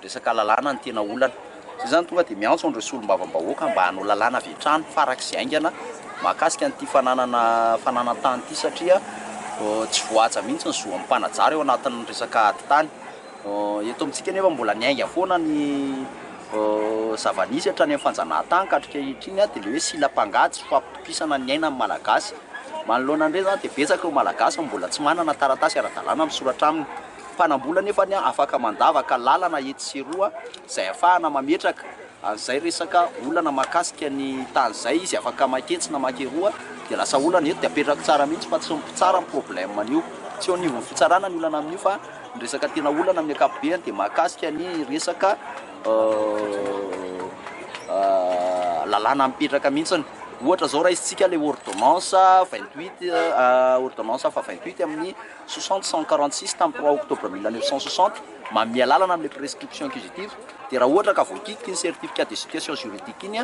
resaka lalàna ny tena olana. Izay izany tonga dia miantso an'ireo solombavambahoaka mba hanao lalàna avy hatrany farak'izay haingana mahakasika an'ity fananana fananan-tany ity satria tsy voahaja mihitsy ny zo amim-panajary ao anatin'ny resaka ady tany. Eto amintsika anefa mbola miainga foana ny zava-nisy hatrany amin'ny fanjanahantany ka hatr'ankehitriny dia ilay hoe silam-pangaha tsy fampitokisana ny aina ny Malagasy. Manoloana an'ireny izany dia betsaka ireo Malagasy no mbola tsy manana taratasy ara-dalàna misoratra aminy. Mpanam-bola anefa ny afaka mandavaka lalana etsy sy eroa izay ahafahana mametraka. Ary zay resaka olana makasika ny tany zay izy afaka maka etsy na maka eroa dia lasa olana eto dia apetrako tsara mihintsy fa tsy ny mpitsara ny problème an'io tsy eo anivon'ny fitsarana ny olana amin'io fa ny resaka tena olana amin'ny akapobeany dia mahakasika ny resaka lalàna mipetraka mihintsiny ohatra zao raisintsika le ordonnance vingt huit ordonnance afa vingt huit amin'ny soixante cent quarante six tamin'ny trois octobre mille neuf cent soixante manome alalana amin'ilay prescription inquisitive dia raha ohatra ka voakiky iny certificat de situation juridique iny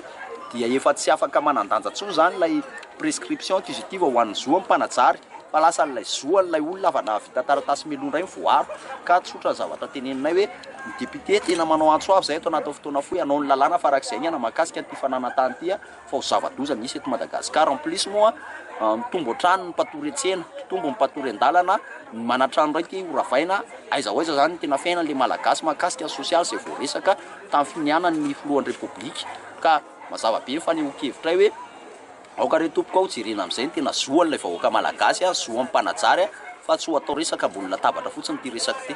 dia efa tsy afaka manan-danja intsony izany ilay prescription inquisitive ho an'ny zo amim-panajary fa lasa ilay zo an'ilay olona afa nahavita taratasy mialoha indray ny voaro ka tsotra ny zavatra teneninay hoe ny député tena manao antso avo izay eto anatin'ny fotoana fohy hanao ny lalàna farak'izay ny hanao mahakasika an'ity fananantany ity fa ho zava-doza misy eto Madagascar, en plus moa mitombo hatrany ny mpatory an-tsena, mpitombo ny mpatory an-dalana, ny manan-trano iray te ho ravaina, aiza ho aiza zany ny tena fiainan'ilay Malagasy mahakasika ny sosialy izay voaresaka tamin'ny finianan'ny filohan'ny Repoblika, ka mazava be ny fanehoan-kevitray hoe aoka re tompoko ao jerena amin'izay ny tena zoan'ilay vahoaka Malagasy a, zo amin'ny mpanajary fa tsy ho atao resaka ambony latabatra fotsiny ity resaka ity.